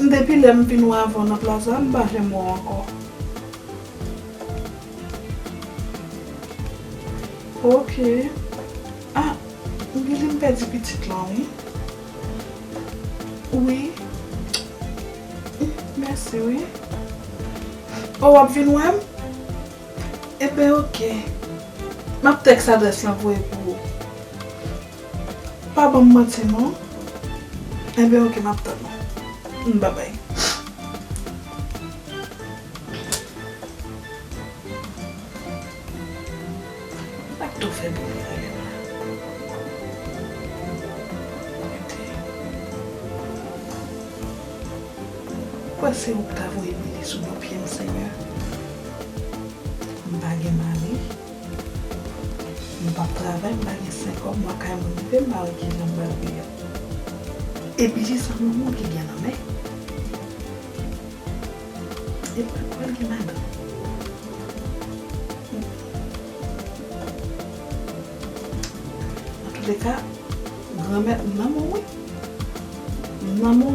M depi lè m vin wè avè w nan plaza m pa janm wè w ankò ok ah m gen lè m pèdi pitit lan wi wi m mèsi wi oh wap vin wè m ebyen ok map tèks adrès lan voye pou ou. Pa banm manti non. Enben ok map tann ou babay. Sak tou fè bri a ye la. Mete. Ou kwè se ou ki ta voye bri sou do pyem senyè. M pa gen mari. M pap travay m pa gen sen kòb mwen kay moun m vle m pa wè kijan m pral viv e bgy sa manman w ki gen nan men e pat pral gen madanm nan tout leka granmèt m nan men w wi m nan men w.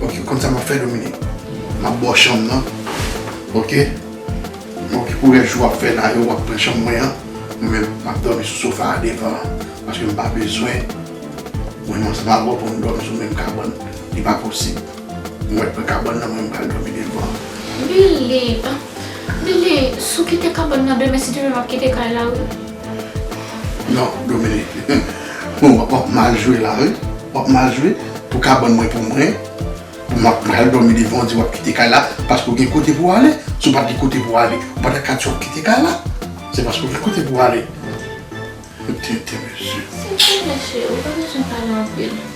Ok ou konn sa map fè Dominique Map baw chanm nan Ok Mwen poko wè jou wap fè la yo wap pran chanm mwen an Mwen menm map dòmi sou sofa a devan an Paske mpa bezwen Mwen menm ansanm avèw pou nou dòmi sou menm kabann Li pa posib Mwen wè pran kabann nan mwen pral dòmi devan an. Billy Billy sou kite kabann nan demen si demen map kite kay la wi. Non Dominique Ou ap mal jwe la wi Ou ap mal jwe Pou kabann mwen pou mwen Pou mwen pral dòmi devan ou di w ap kite kay la Paske ou gen kote pou w ale Si w pa t gen kote pou w ale ou pa ta ka di w ap kite kay la Se paske ou gen kote pou w ale Ou tenten mesye Tenten mesye Ou pa bezwen pale anpil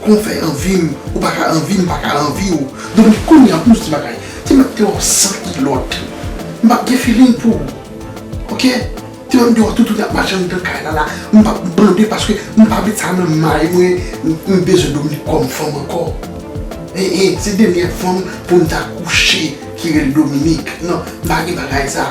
Kon w fè anvi m, ou pa ka anvi m, m pa ka anvi w. Donk kounye a pou nou se ti bagay, ti m ap te wè w san kilòt, m ap gen feeling pou ou. Ok? Ti m ap te wè w toutouni ap mache anndan kay la la, m p ap bande paske m pa met sa nan may mwen, m bezwen Dominik kòm fanm ankò. E e, se dènyè fanm pou m ta kouche ki rele Dominik. Non, m pa gen bagay sa.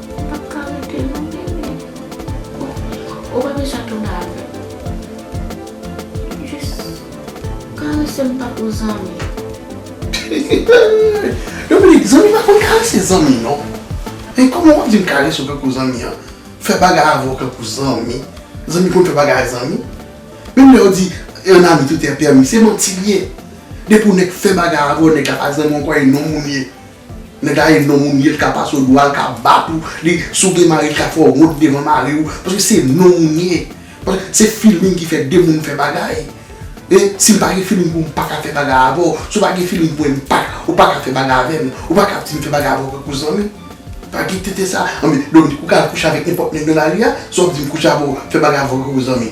Pap ka rete non bebe. Bon ou pa bezwen tounen avèm jis karesem tankou zanmi. Yon minit zanmi pa konn karese zanmi non men kòman wap vin karesew tankou zanmi an fè bagay avèw tankou zanmi zanmi konn fè bagay ak zanmi menm lè yo di un ami tout est permis se manti li ye depi yon nèg fè bagay avèw nèg la pa zanmiw ou kwè e non moun li ye. Nèg la ye non moun ye li ka pase w dwa li ka bat ou li si w gen mari li ka fè w wont devan mari w paske se non moun ye paske se feeling ki fè 2 moun fè bagay e si m pa gen feeling pou w m pa ka fè bagay avè w si w pa gen feeling pou mwen m pa ou pa ka fè bagay avè m ou pa ka ap di m fè bagay avè w tankou zanmi pa gen tenten sa anben donk ou ka al kouche avèk nenpòt nèg nan lari a sa w ap di m kouche avè w fè bagay avè w tankou zanmi.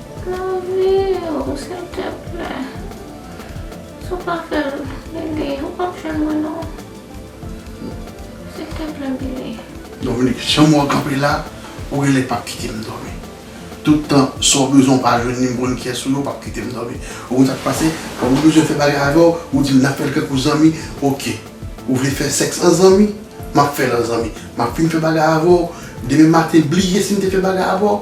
Laviw silteplè si w pa fèl Billy ou pap jwenn mwen non silteplè Billy. Dominique janm wèw kanpe la ou genlè pap kitem dòmi tout tan sa w bezwen w pa jwenn li m konn kiyès ou ye ou pap kitem dòmi ou konn sak pase lè m bezwen fè bagay avèw ou dim nap fèl tankou zanmi ok ou vle fè sèks an zanmi map fèl an zanmi map fin fè bagay avèw demen maten bliye sim te fè bagay avèw.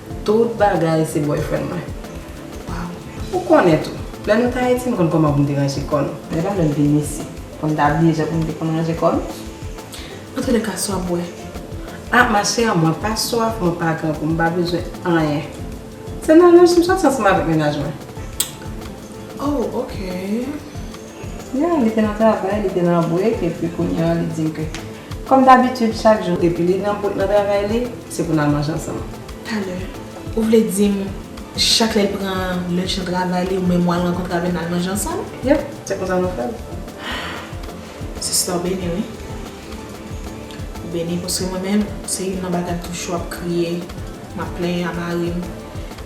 Tout bagay se boyfriend mwen. Waww ou konnen tou. Lè nou t ayiti m konn kòman pou m te ranje kò nou. Men la lè m vin isi. Pou m t abiye jan pou m te konn ranje kò nou. Antoulèka swa bwè. Ah ma chère mwen pa swaf mwen pa grangou m pa bezwen anyen. Se nan lòj m sòti ansanm avèk mennaj mwen. Oh ok. Yeah li te nan travay li te nan break epi kounye an li dim ke kòm dabitid chak jou depi li nan nan travay li se pou nal manje ansanm. Talè ou vle dim chak lèl pran lunch nan travay li ou menm wal rankontre avèl nal manje ansanm? Yep se konsa nou fèl. Sista ou beni wi. Ou beni paske mwen menm se youn nan bagay toujou ap kriye map plenyen a marim.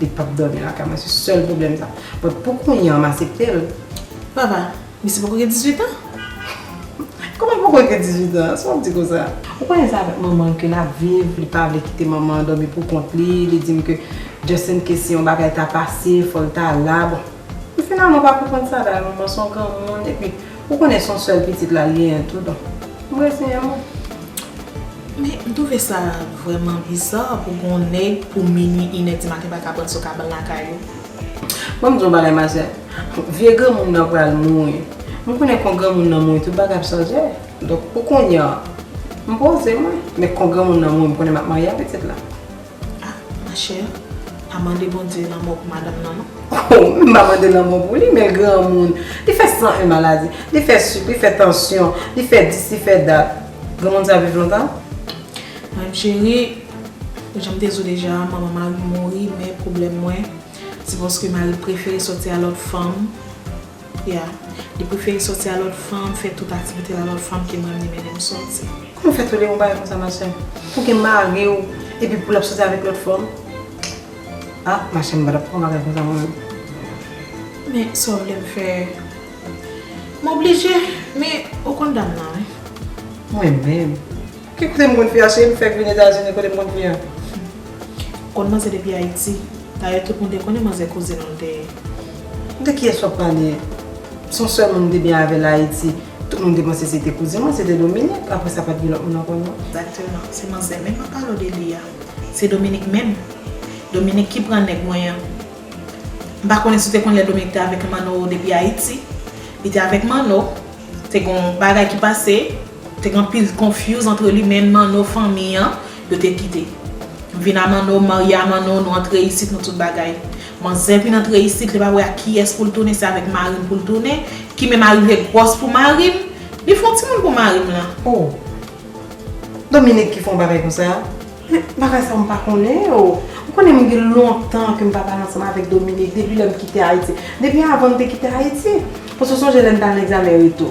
Li pap domi lakay mwen se sel problem sa. But pou kounya m asepte l. Papa, misye poko gen 18 ans? Kòman l poko gen 18 ans? Sa wap di konsa? Ou konnen se avèk manman l ke lap viv, li pa vle kite manman an domi pou kont li, li dim ke just in case si yon bagay ta pase fòl ta la, bon. Li finalman pa konprann sa la manman son granmoun epi ou konnen son sèl pitit la genyen tou donk m reziyen mwen. Men m twouve sa vrèman biza pou gon nèg pou minwi inè di maten pa ka pran sou kabann lakay yo. Bon m di w bagay mazè vye granmoun nan pral mouri m konnen kon granmoun nan mouri tout bagay ap chanje donk pou kounya m poze mwen men kon granmoun nan mouri m konnen m ap marye a pitit la. Ah ma chère pa mande Bondye lanmò pou madanm nan non. Oh wi m pa mande lanmò pou li men granmoun li fè 101 maladi li fè suk li fè tansyon li fè dis li fè dat granmoun sa viv lontan? Madanm chérie janm te di w deja manman mari m mouri men pwoblèm mwen se paske mari m prefere sòti a lòt fanm. Ya. Li prefere soti a lòt fanm, fè tout aktivite l a lòt fanm ke mwen li mennen m soti. Kouman w fè tolere yon bagay konsa ma sè? Pou gen mari w epi pou l ap soti avèk lòt fanm? Ah ma chè m pa tap fè yon bagay konsa mwen menm. Men sa w vle m fè? M oblije, men ou konn dam nan wi. Mwen menm? Ki kote m konn fia cheri m fèk vin etazini kote m konn fia. Humm konn manzè depi ayiti dayè tout moun te konnen manzè kouzin ou l te ye. De kiyès wap pale? Son sèl moun m te byen avèl ayiti tout moun te panse se te kouzin mwen se te Dominique aprè sa pat gen lòt moun ankò non. Exactement se manzè menm wap pale w de li a se Dominique menm Dominique ki pran nèg mwen an m pa konnen si w te konn lè Dominique te avèk manno depi ayiti li te avèk manno te gon bagay ki pase Te gen anpil confuse antre li menn Manno fanmi an yo te kite. M vin a Manno, m marye a Manno, nou antre isit nou tout bagay. Manzè vin antre isit li pa wè ak kiyès pou l tounen se avèk mari m pou l tounen ki menm arive gwòs pou mari m, li fon timoun pou mari m lan. Oh! Dominique ki fè yon bagay konsa? Men bagay sa m pa konnen yo. Ou konnen m gen lontan ke m pa pale ansanm avèk Dominique depi lè m kite Ayiti. Depi avan m te kite Ayiti. Paske w sonje lè n t al nan egzamen retou.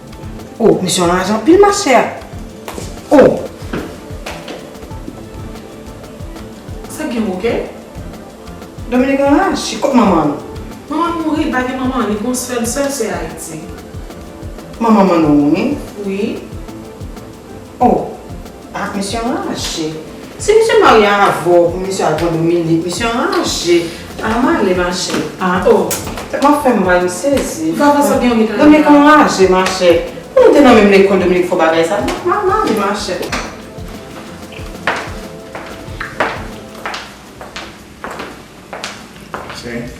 Oh misye anraj anpil ma chère. Oh. Sa gen bouke? Dominique anraj ui kot manman l? Manman l mouri li pa gen manman li gon sèl sèl sè ayiti. Manman Manno mouri? Wi. Oh ah misye anraje. Si misye marye avèw pou misye al pran Dominique misye anraje ah male machè ah oh tèt mwen ap fèm mal m sezi Dominique anraje machè pou nou te nan menm lekòl Dominique fò bagay sa ah male machè. Tiens.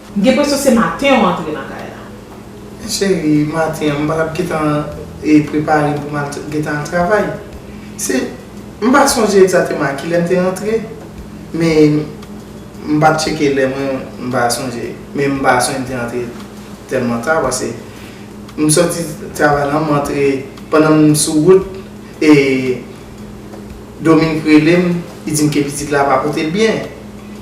M gen presyon se maten ou antre nan kay la. Cheri, maten an m pa tap gentan prepare pou m al gentan al travay. Se, m pa sonje egzateman a kilè m te rantre, men m pa tcheke lè mwen, m pa sonje. Men m pa sonje m te rantre tèlman ta pase m soti travay lan m antre pandan m sou wout e. Dominique rele m, li di m ke pitit la pa pote l byen.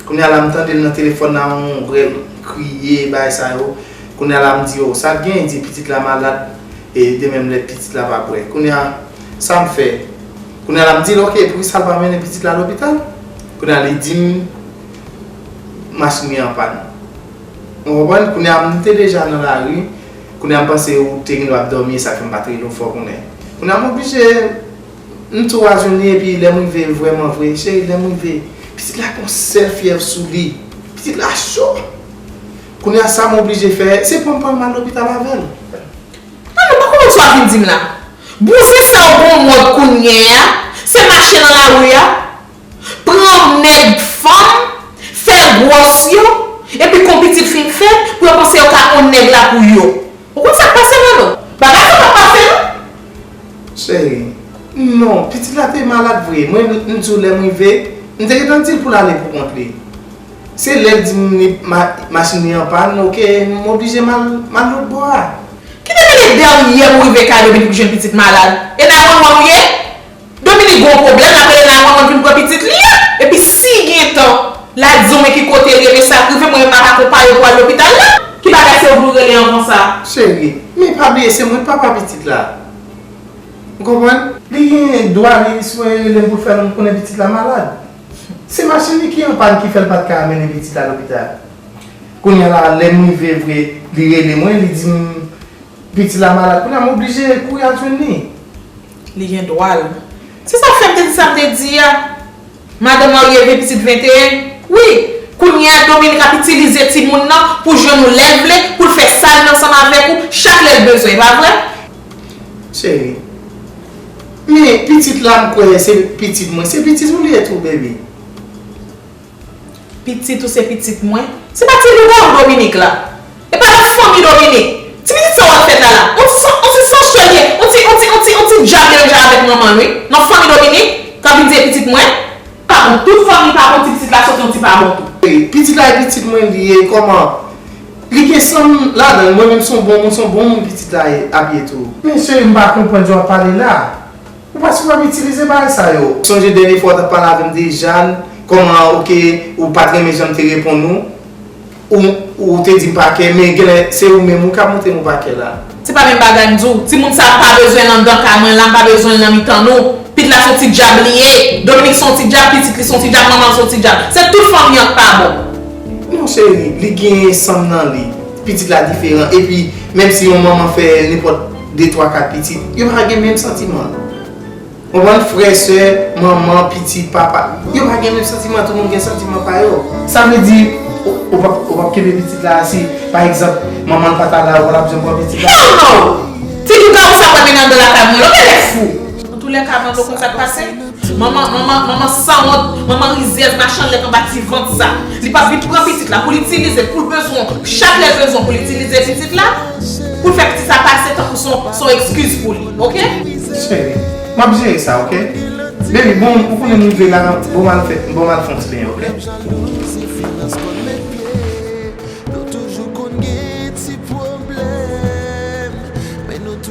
Kounye a la m tande l nan telefòn nan yon vrèl kriye e bagay sa yo. Kounye a la m di, oh, sa k gen? Li di, pitit la malad e li te menm lèd, pitit la pa bwè. Kounye a, sa m fè? Kounye a la m di l, ok, e poukisa l pa mennen pitit la lopital? Kounye a li di m, machin li anpàn. Ou konprann? Kounye a, m te deja nan lari. Kounye a, m panse ou te gen dwa ap dòmi e sa k fè m pa t rele w fè w konnen. Kounye a, m oblije. M tou razouni epi lè m rive vrèman vre cheri lè m rive pitit la gon sèl fyèv sou li pitit la cho kounye a sa m oblije fè se pran pran l mal lopital avè l. Nan men pa konprann sa w ap vin di m la. Bouzen sa w gon mòd kounye a se mache nan lari a. pran nèg fanm, fè gwòs yo, epi kon pitit fin fèt, pou yo panse yo ka on nèg la pou yo. Ou konn sa k pase Manno? Bagay sa pa pase non! Cheri, Non, pitit la te malad vre, mwen m di w lè m rive, m te gentan di l pou l ale pou kont li. Se lè l di m li machin li anpàn, ok, m oblije m al lotbò a. Ki te mele dèryè m rive kay Dominique pou jwenn pitit malad? E nan Wawawou ye? Dominique gon pwoblèm lap rele nan manmanl vin pran pitit li a epi si gen tan la diw men ki kotel ye men sak rive mwen menm map akonpayew pou al lopital la. Ki bagay se ou vle w rele an konsa. Cheri. Men pa bliye se mwen papa pitit la. Ou konprann? Li gen dwa li sipoze relem poul fèm konnen pitit la malad. Se machin li ki anpàn ki fèl pat ka mennen pitit la lopital. Kounya la lèm rive vre li rele mwen li dim pitit la malad kounya m oblije kouri al jwenn li. Li gen dwa l. Se sa k fè m te di sa m te di a. Madan marye gen pitit 21? Wi. Kounye a Dominik ap itilize timoun nan pou jwenn ou lè l vle, pou l fè sa l vle ansanm avèk ou, chak lè l bezwen. E pa vre? Cheri. Men, pitit la m kwè se pitit mwen. Se pitit ou li ye tou, baby. Pitit ou se pitit mwen. Se pa ti lougarou Dominique la. E pa nan fanmi Dominique. Ti pitit sa wap fè lala. On ti on ti sanchè li ye. On ti on ti on ti on ti djab li menm jan avek manmanl wi. Nan fanmi Dominique. Kap vin di e pitit mwen. Pa bon. Tout fanmi pa bon ti pitit la sot yon ti pa bon tou. Pitit la e pitit mwen li ye koman li gen sanm ladanl mwen menm son bon moun son bon moun pitit la ye ap ye tou. Mesye m pa konprann jan wap pale la. Ou pa sipoze ap itilize bagay sa yo. Sonje dènye fwa ou tap pale avèm te Jeanne kòman ok ou pat renmen janm te reponn ou ou ou te dim pakè men genlè se ou menm ou ka montrem ou pakè la. Se pa menm bagay m di w. Timoun sa m pa bezwen l anndan kay mwen la, m pa bezwen l nan mitan nou. Pit la s on ti dyab li ye. Dominique s on ti dyab, pitit li s on ti dyab, manman l s on ti dyab. Se tout fanmi an k pa bon. Non cheri, li gen san m nan li. Pitit la diferan. Epi, menm si yon manman fè nenpòt. 2 3 4 pitit yo pa gen menm santiman konprann frè sè manman pitit papa yo pa gen menm santiman tout moun gen santiman pa yo sa vle di ou pap kenbe pitit la si pa egzanp manman l pata la ou patap janm pran pitit la hell no ti dougard ou sa pa vin andan lakay mwen ok lèd fou. Antoulèka mando konn sak pase. Manman manman manman sanwont manman rizyèz machan lèt anba ti vant sa li pap vin pran pitit la poul itilize poul bezwen chak lèl bezwen poul itilize pitit la poul fè pitit sa pase tankou son son ekskiz pou li ok. Cheri map jere sa ok baby bon ou konnen nou de la bon mal fè bon mal fon ti benyen ok.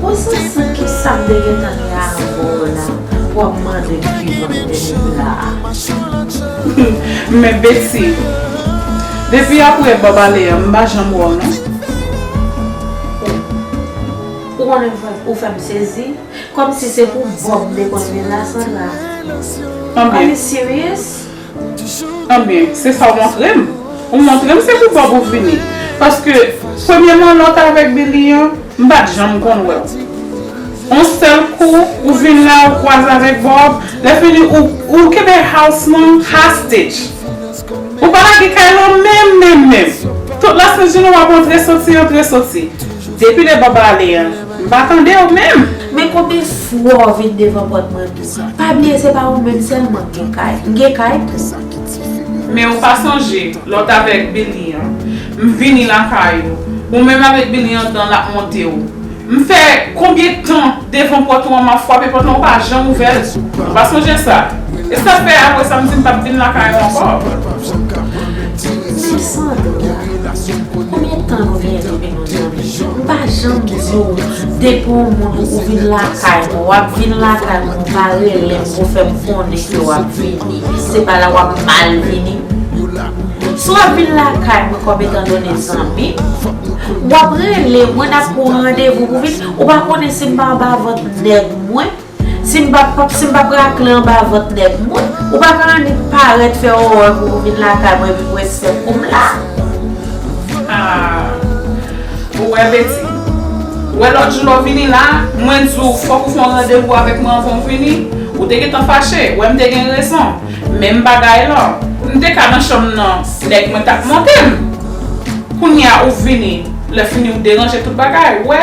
Bon sa san kisa m te gentan gen avw la wap mandem ki vant denim laa. Men Betty, depi aprè Bob ale an m pa janm wè w non. Ou ou konnen ou fè m sezi, kòmsi se pou Bob m te konn vin la Sandra, are you serious? Ebyen, se sa w montre m. Ou montre m se pou Bob ou vini. Paske, premye manlòt avèk Billy an, m pa t janm konn wè w. On sèl kou, ou vin la, ou kwaze avèk Bob, lèfini ou, ou kenbe house lan hostage. Ou pa lage kay lan menm menm menm. Tout las Nations w ap antre soti, antre soti. Depi lè Bob ale an, M pa tande w menm. Men konbyen fwa w vin devan pòt mwen tou. Pa bliye se pa ou menm sèlman k gen kay. M gen kay tou. Men ou pa sonje lè w t avèk Billy an. M vini lakay ou. Ou menm avèk Billy andan l ap monte w. M fè konbyen tan devan pòt ou an m ap fwape pòt lan ou pa janm ouvè l. Ou pa sonje sa. E sa k fè apre sa m di m pap vin lakay ou ankò. Mesandra, konbyen tan nou vin rete menm. M pa janm di w depi w moun ou vin lakay mwen w ap vin lakay mwen ou pa rele m pou fè m konnen ke w ap vini se pa la w ap mal vini si w ap vin lakay mwen kòm etan done zanmi w ap rele mwen n ap pran randevou pou vin ou pa konnen si m pa anba vant nèg mwen. Si m pa si m pa p rakle anba vant nèg moun. Ou pa ka annik parèt fè òòòè pou ou vin lakay mwen epi mwen sèt pou m la. Aah ou wè Betty. Wè lòt jou lè w vini la, mwen di w fòk ou fè yon randevou avèk mwen anvan w vini. Ou te gentan fache, wè m te gen rezon. Menm bagay la. M te ka nan chanm nan, nèg mwen t ap monte m. Kounye a ou vini, lè fini ou deranje tout bagay, ou wè.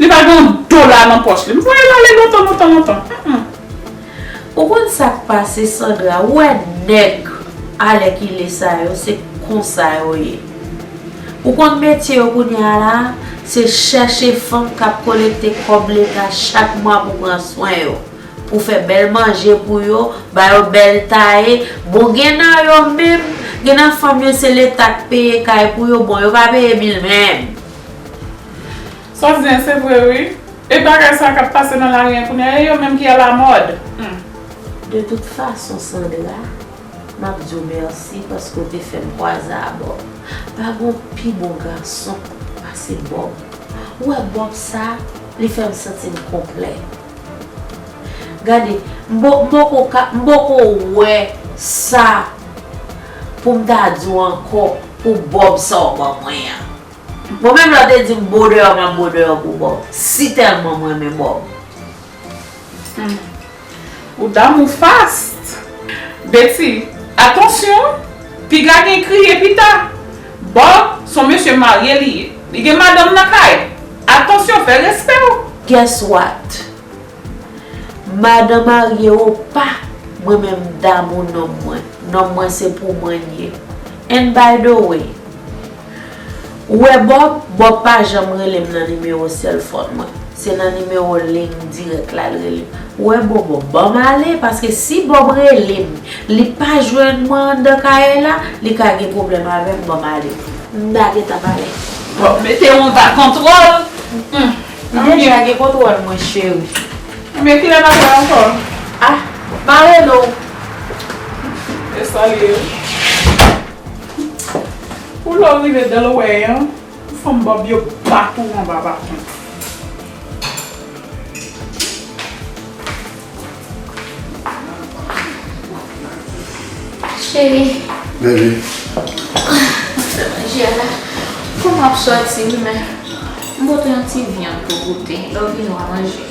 Li pa gen yon dola nan pòch li. M voye l ale lontan lontan lontan. Humm. Ou konn sak pase Sandra ou wè nèg alèkile sa yo se konsa yo ye ou konn metye yo kounya la se chèche fanm kap kolekte kòb leta chak mwa pou pran swen yo pou fè bèl manje pou yo ba yo bèl taye bon gen nan yo menm gen nan fanm yo se leta k peye kay pou yo bon yo pa peye bil menm. Saw di an se vre wi. E bagay sa kap pase nan lari an kounya e yo menm ki a la mòd humm. De tout fason Sandra map diw merci paske ou te fèm kwaze a Bob pa gon pi bon gason pase Bob ou wè Bob sa li fèm santim konplè gade m poko ka m poko wè sa poum ta diw ankò pou Bob sa ou ban mwen an. Mwen menm lè w te di m bo deyò m ap bo deyò pou Bob si tèlman m renmen Bob. Humm ou damou fast. Betty, atansyon, piga gen kriye pita. Bob son mesye marye li ye. Li gen madanm nan kay. Atansyon fè respè w. Guess what? Madan marye ou pa, mwen menm m damou nonm mwen. Nonm mwen se pou mwen l ye. And by the way. Ou wè Bob? Bob pa janm rele m nan nimewo sèlfòn mwen. Se nan nimewo liy dirèk la l rele m. Ou wè Bobo? Ban m ale paske si Bob rele m, li pa jwenn mwen anndan kay la, li ka gen pwoblèm avè m. Ban m ale. M ta gentan pale. Bob mete yon va kontwòl. M deja gen kontwòl mwen cheri. Ebyen kilè n ap wè ankò? A! M a rele w. E salye l. Ou lè w rive Delaware an, pou fanm bòb yo bat ou anba baton. Cheri. Bebe. Mwen fè manje a la. Fò m ap soti wi men. M pote yon ti vyann pou goute. Lè w vini w a manje.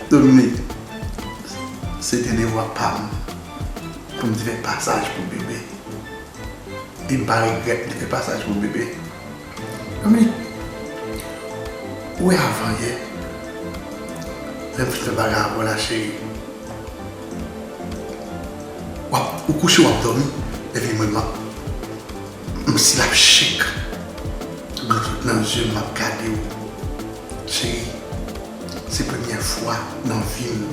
Dominique, Se te devwa pa m pou m te fè pasaj pou Bebe. E m pa regrèt m te fè pasaj pou Bebe. Dominique, Ou wè avan yè, lè m fin fè bagay avè w la cheri, ou kouche w ap dòmi, epi mwen m ap, m stil ap shake, dlo tout nan zye m, m ap gade w cheri. Se premyè fwa nan vim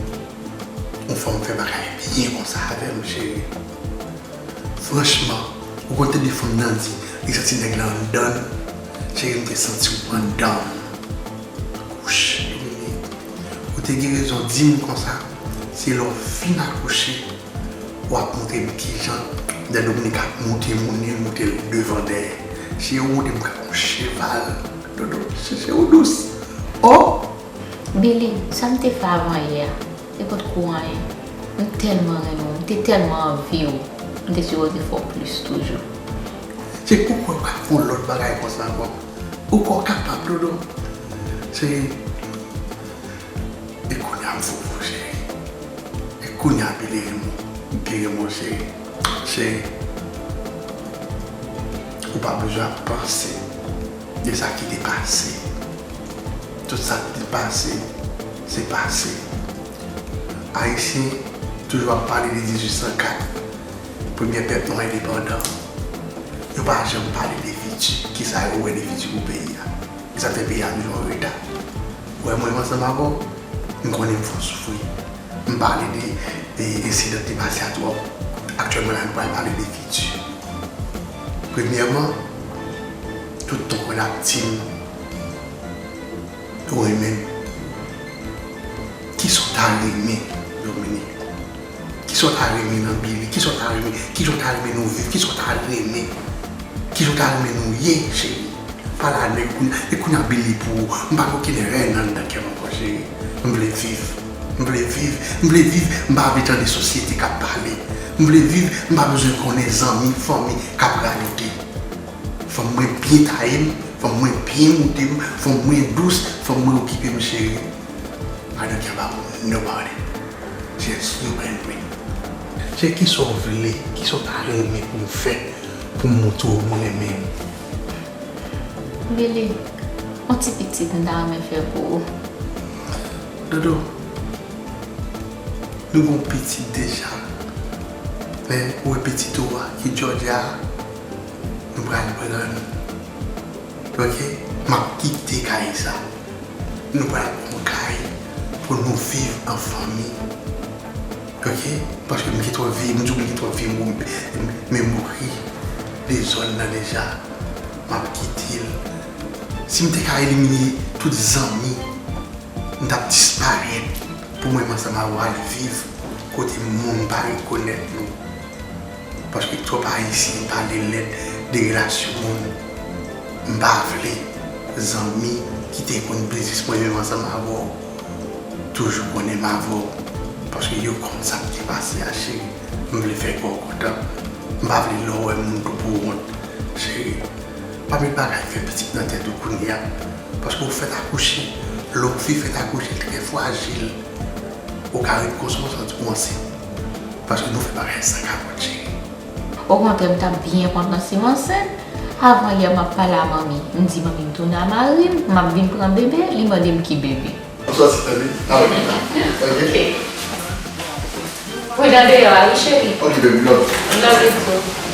yon fanm fè bagay byen konsa avèm cheri franchman ou konn tande fanm nan di li santi nèg la anndanl cheri m te santiw anndanm akouche yon minit ou te gen rezon dim konsa se lè w fin akouche Wap montre m kijan lè Dominik ap monte moun li monte l devan dèyè si yo monte m ka on cheval dodo chèche ou dous oh. Billy sa m te fè avan yè a se pot ko anyen m tèlman renmen w m te tèlman anvi w m te sipoze fè w plis toujou. Se ou kwè ou ka fè on lòt bagay konsa ankò ou kwè w kapab dodo se. E kounya m fou pou ou cheri E kounya believe m m pi renmen w cheri Cheri Ou pa bezwen ap panse De sa ki te pase Tout sa k te pase Se pase Ayisyen toujou ap pale de 1804 Premyè pèp nwa endepandan Yo pa janm pale de fiti Kisa yo wè de fiti pou peyi a Kisa k fè peyi a toujou an reta Wè mwen ansanm avè w, m konnen m fè w soufri. M pale de ensidan ki te pase a twòp. Aktyèlman la nou pral pale de fiti. Premyèman, tout tan kò l ap di m ou renmen l. Kisa w ta renmen Dominique Kisa w ta renmen nan Billy? Kisa w ta renmen? Kijan w ta renmen nou viv? Kisa w ta renmen? Kijan w ta renmen nou ye cheri? Pale avè m kounya. E kounya Billy pou ou? M pa gen okenn rèn anndan kè m ankò cheri. M vle viv. M vle viv. M vle viv. M pa vle tande sosyete k ap pale. M vle viv. M pa bezwen konnen zanmi, fanmi k ap radote. Fanm mwen byen taye m. Fanm mwen byen moude m. Fanm mwen dous. Fanm mwen okipe m cheri. Pa gen kè ba m nobody. Yes you can do it Cheri kisa w vle kisa w ta renmen pou m fè pou m moutre w m renmen ou. Lili, On ti pitit m ta renmen fè pou ou. Dodo, Nou gen yon pitit deja men ou wè pitit ou a ki Georgia a nou pral pran l. Ok map kite kay sa nou pral pran yon kay pou nou viv an fanmi ok paske m gen twòp vye m di w m gen twòp vye memori de zòn nan deja map kite l si m te ka elimine tout zanmi m tap disparèt pou mwen m ansanm avw al viv kote moun pa rekonèt nou. Paske twòp ayisyen pale lèd de relasyon moun m pa vle zanmi ki te konn biznis mwen menm ansanm avèw toujou konenm avèw paske yo konn sak te pase a cheri m vle fè kèw kontan m pa vle lèw wè moun tou pou wont cheri pa met bagay fè pitit nan tèt ou kounya paske ou fèt akouche lè yon fi fèt akouche l trè fwajil ou ka ret konsa w santi w ansent. Paske nou fè bagay san kapòt cheri. Okontrè m tap byen kontan sim ansent, avan yè map pale a manmi, m di manmi m tounen a marim, map vin pran bebe, li mandem ki bebe. Ou sòti tande, ala m chita ok. Pridan deyò a wi cheri. Ok baby m love you. M love you too.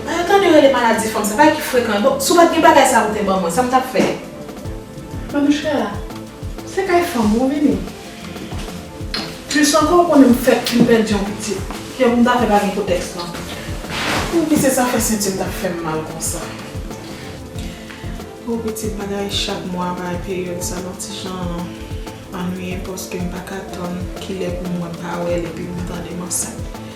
Mwen yo tande yo rele maladi fanm sa, bagay ki frekan. Bon, si w pa t gen bagay sa a pou te ban mwen, sa m t ap fè? Men m chè a, se kay fanm ou vini. Plis ankò ou konnen m fèk fin pèdi yon pitit. Kiyè pou m ta fè pa gen kotèks lan? Pou ki se sa fè senti m t ap fè m mal konsa? O pitit, bagay chak mwa a, bagay peryòd sa a yon ti jan annuiyen paske m pa ka tann kilè pou m wè Pawèl epi pou m tande m ansent.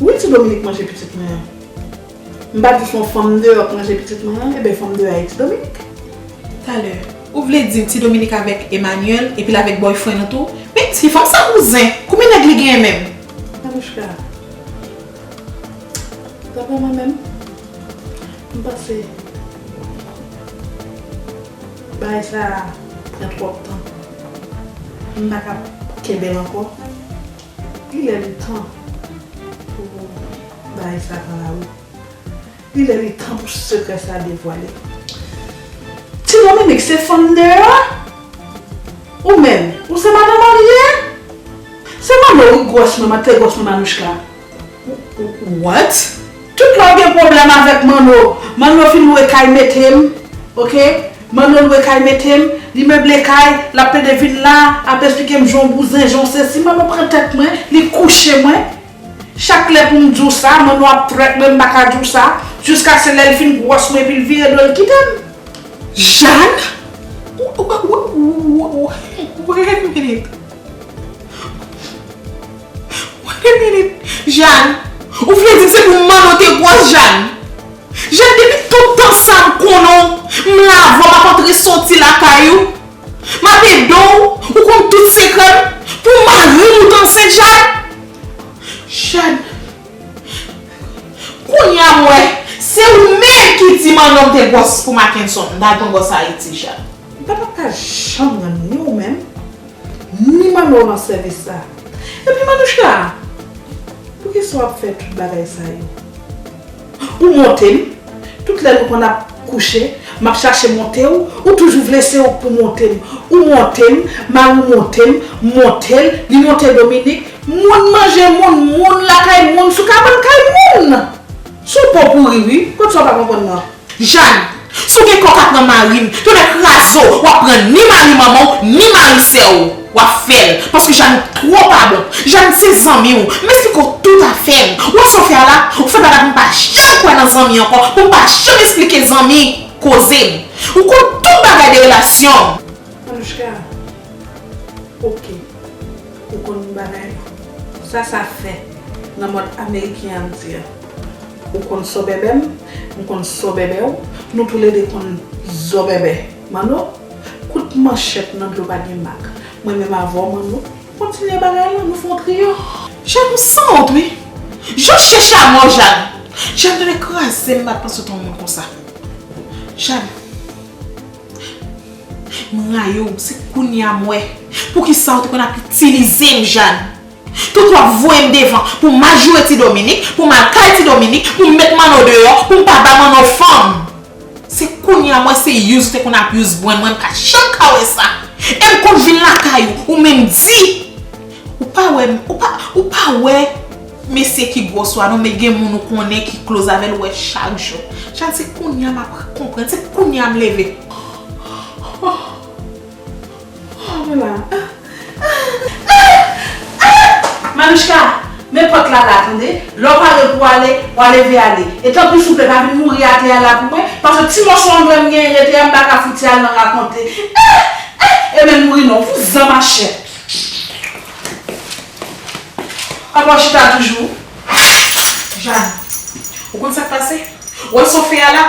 Wi ti Dominique manje pitit mwen an. M pa di son fanm deyò k manje pitit mwen an eben fanm deyò a e ti Dominique. Talè ou vle di ti Dominique avèk Emmanuel epil avèk boyfriend ou tou men ti fanm sa bouzen konbyen nèg li genyen menm. Anouchka Daprè mwen menm m panse bagay sa pran twòp tan m pa kab kenbel ankò. Li lè li tan pou bagay sa pran lawout. Li lè li tan pou sekrè sa devwale. Ti Dominique se fanm deyò? Ou menm, ou se madan marye? Se manno wi gwòs mwen, mantegòs mwen Manouchka. What? Tout lè w gen pwoblèm avèk Manno, Manno fin lwe kay mete m ok, Manno lwe kay mete m, li meble kay, l ap plede vin la, ap esplike m jan w bouzen, jan w sesi, Manno pran tèt mwen, li kouche mwen. Chak lè pou m di w sa, Manno ap trèt mwen, m pa ka di w sa, jiskaske lè l fin gwòs mwen epi l vire do l kite m. Jàn, Wait a minute. Wait a minute, Jane, ou vle di se pou Manno te gwòs Jane? Jane depi tout tan sa m konnen w, m la avè w m'ap antre soti lakay ou, m'ap ede w, ou konn tout sekrè m, pou mari m ou t ansent Jane? Jane, Kounya m wè se ou menm ki di Manno te gwòs pou Mackenson, m ta konn gwòs Ayiti Jane. M pa tap ka janm rann ni ou menm Ni manno lan sèvis sa. Epi manouchka! Poukisa wap fè tout bagay sa yo? Ou monte m, tout lè nou konn ap kouche, map chache monte w, ou toujou vle se ou k pou monte m. Ou monte m, mari w monte m, m monte l, li monte Dominik, moun manje moun, moun lakay moun, sou kabann kay moun! Sou po pouri wi, kot sa ou pa konprann mwen. Jade. Si w gen kò ka pran mari m, tonnè kraze w, w ap pran ni mari manman w, ni mari sè w. W ap fè l. Paske Jade ou twò pa bon. Jade se zanmi w. M esplike w tout afè m. Ou wè sa w fè a la? Ou fè bagay pou m pa janm kwè nan zanmi ankò, pou m pa janm esplike zanmi koze m. Ou konn tout bagay de relasyon m. Anouchka. Ok. Ou konn yon bagay? Sa sa fè nan mòd ameriken an di an? Ou konn sòbèbè m, m konn sòbèbè w, nou toulede konn zòbèbè. Manno, kout manchèt nan dlo pa gen mak. Mwen menm avè w Manno, kontinye bagay lan, nou fè yon triyo. Jàn ou san wont wi. Jan chè chamo Jàn. Jàn ta dwe kraze m, m pa t panse w t yon moun konsa. Jàn. M rayi w, se kounye a m wè poukisa w te konn ap itilize m Jane. Tout w ap voye m devan pou m al joure ti Dominik, pou m al kay ti Dominik, pou m met Manno deyò, pou m pa ba Manno fanm. Se kounye a m wè se use w te konn ap use mwen, mwen m pa janm ka wè sa. E m konn vin lakay ou, ou menm di. Ou pa wè m, ou pa, ou pa wè. Mesye ki gwo swa non men gen moun ou konnen ki kloz avèl ou wè chak jou chal se kounya map konprann se kounya m leve oh oh oh mwen la ah ah ah ah Manouchka men pòt la la tande lè w pare pou w ale wa leve ale e tanpri souple pa vin mouri atè a la pou mwen paske ti mòso anglè m genyen rete a m paka fouti al nan rakonte ah ah e menm mouri non vouzan machè. Papa w chita toujou? Jane, Ou konn sa k pase? Ou wè sa w fè a la?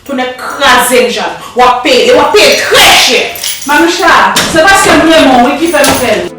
Tonnè kraze m Jane, w ap peye l e w ap peye l trè chè! Manoucha, Se paske m renmen w wi ki fè m fè l.